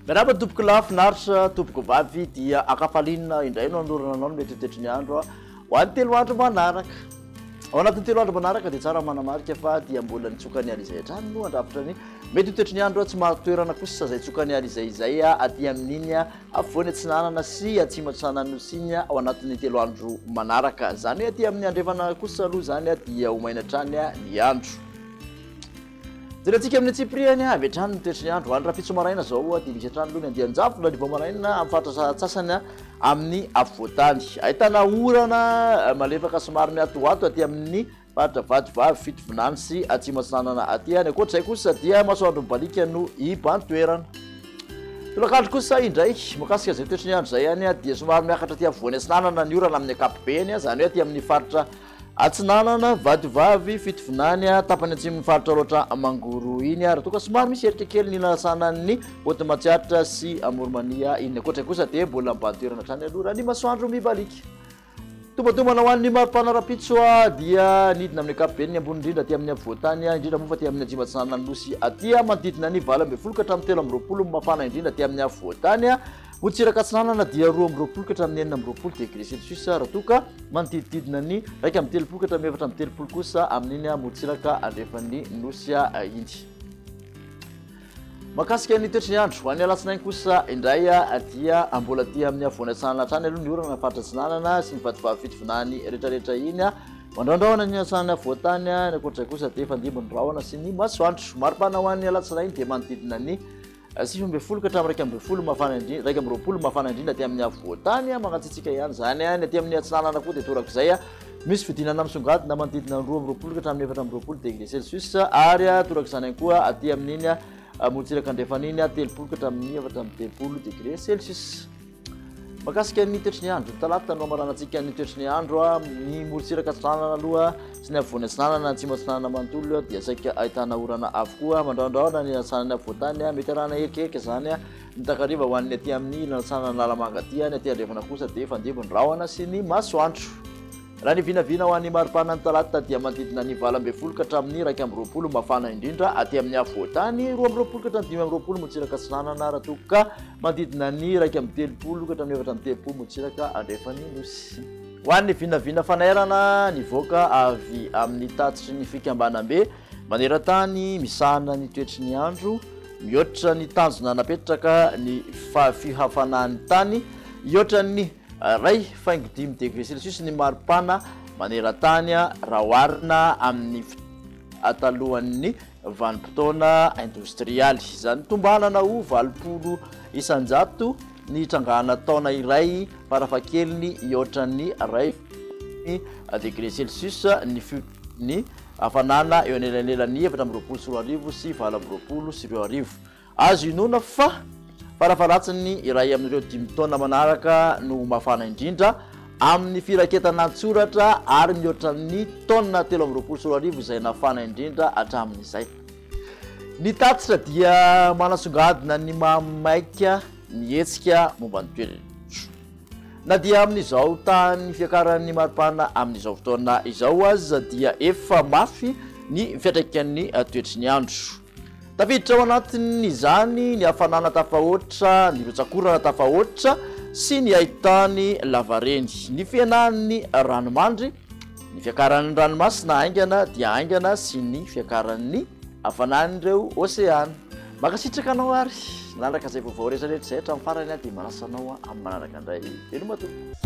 Miarahaba tompoko lahy finaritra tompoko vavy dia akafalina indray no anorana anao ny metritetry ny andro ho an'ny telo andro manaraka ao anatin'ny telo andro manaraka dia tsara manamarika fa dia mbola nitsoka ny aly izay hatrany no andrafitra ny metritetry ny andro tsy maharotoerana kosa izay tsoka ny aly izay izay aty amin'iny Afovoany atsinanana sy atsimo atsinanan'ny Nosy iny ao anatin'ny telo andro manaraka. Izany hoe aty amin'ny andrefana kosa aloha izany dia ho maina hatrany ny andro. Jerentsika amin'ny antsipirihany avy hatrany ny toetry ny andro. Any Rahampitso maraina izao dia misy hatrany aloha ny andian-javona ny vao maraina amin'ny faritra sasantsasany amin'ny afovoan-tany. Ahitana orana malefaka somary mihatohato aty amin'ny Faritra Vatovavy, Fitovinany sy Atsimo Atsinanana aty. Any ankoatr'izay kosa dia masoandro mibaliaka no iban-toerana. Tolakandro kosa indray, makasika izay toetry ny andro izay any dia somary miakatra aty afovoany atsinanana ny orana amin'ny ankapobeny, izany hoe aty amin'ny faritra atsinanana, Vatovavy, Fitovinany, tapany atsimon'ny faritra Alaotra Mangoro iny, ary toa ka somary misy erika kely ny nanasanan'ny Haute Matsiatra sy Amorimania iny. Ankoatr'izay kosa dia mbola miban-toerana hatrany aloha raha ny masoandro mibaliaka. Tombatombana ho an'ny maripana rahampitso dia nidina amin'ny ankapobeny ny ambony indrindra aty amin'ny afovoan-tany, indrindra moa fa aty amin'ny Anjima Atsinanana Nosy aty, manodidina ny valo ambin'ny folo ka hatramin'ny telo amby roapolo ny mafana indrindra aty amin'ny afovoan-tany, motsiraka atsinanana dia roa amby roapolo ka hatramin'ny enina amby roapolo degré celsius raha toa ka manodidididina ny iraika amby telopolo ka hatramin'ny efatra amby telopolo kosa amin'iny motsiraka andrefan'ny Nosy iny. Mahakasika ny toetry ny andro, ho an'ny alatsinainy kosa indray dia mbola aty amin'ny havoana antsinanana hatrany aloha ny orana amin'ny faritra atsinanana sy ny vatovavin'ny fitovinany rehetrarehetra iny. Mandrahondrahona ny antsinanana afovoan-tany, ny ankoatr'izay kosa dia efa andimby ny rahona sy ny masoandro. Mari-pana ho an'ny alatsinainy dia manodidina ny sivy ambin'ny folo ka hatramin'ny iraika ambin'ny folo mafana indrindra, iraika amby roapolo mafana indrindra aty amin'ny afovoan-tany, mangatsiatsiaka ihany izany. Ny aty amin'ny atsinanana koa dia torak'izay. Misy fidinana misongadina manodidina ny roa amby roapolo ka hatramin'ny efatra amby roapolo degré Celsius ary toraka izany ihany koa aty amin'iny morontsiraka andrefana iny telopolo ka hatramin'ny efatra amby telopolo degré Celsius. Makasika ny toetry ny andro, ny talata no hamaranantsika ny toetry ny andro amin'ny morontsiraka atsinanana aloha sy ny afovoany atsinanana, atsimo atsinanana manontolo dia saika ahitana orana avokoa mandrandraona ny atsinanana afovoan-tany, mety arahana erikeriky izany. Ny takariva ho an'ny aty amin'ny nilatsahana an'Analamanga aty any, aty andrefana kosa dia fandimby ny rahona sy ny masoandro. Raha ny vinavina ho an'ny maripana ny talata dia manodidina ny valo ambin'ny folo ka hatramin'ny iraika amby roapolo mafana indrindra aty amin'ny afovoantany, roa amby roapolo ka hatramin'ny dimy amby roapolo motsiraka atsinanana raha toa ka manodidina ny iraika amby telopolo ka hatramin'ny efatra amby telopolo motsiraka andrefan'ny nosy. Ho an'ny vinavina fanairana nivoaka avy amin'ny tatitry ny fikambanam-be Maneran-tany misahana ny toetry ny andro, mihoatra ny tanjona napetraka ny fihafanan'ny tany, hihoatran'ny iray faingo dimy degre celsius ny maripana maneran-tany raha oharina amin'ny talohan'ny vanim-potoana indostrialy. Izany tombanana ho valopolo isan-jato ny trangana taona iray farafahakeliny hihoatran'ny iray degre celsius ny ny Havanana eo anelanelan'ny efatra amby roapolo sy roa arivo sy valo amby roapolo sy roa arivo. Azo inoana fa farafaharatsin'ny iray amin'ireo dimy taona manaraka no ho mafana indrindra, amin'ny firaketana an-tsoratra ary mihoatra ny taona telo amby roapolo sy roa arivo izay nafana indrindra hatramin'izay. Ny tatitra dia manasongadina ny maha maika ny hetsika momba ny toetr'andro. Na dia amin'izao tahan'ny fiakaran'ny maripana amin'izao fotoana izao aza dia efa mafy ny fiantraikan'ny toetry ny andro. Tafiditra ao anatin'izany ny hafanana tafahoatra, ny rotsak'orana tafahoatra sy ny haitany lavareny. Ny fihenan'ny ranomandry Ny fiakaran'ny ranomasina haingana dia haingana sy ny fiakaran'ny hafanan'ireo oseana. Mankasitraka anao ary nanaraka izay vaovao rehetrarehetra izay hatramin'ny farany aho dia manasa anao amin'ny manaraka indray. Veloma tompoko.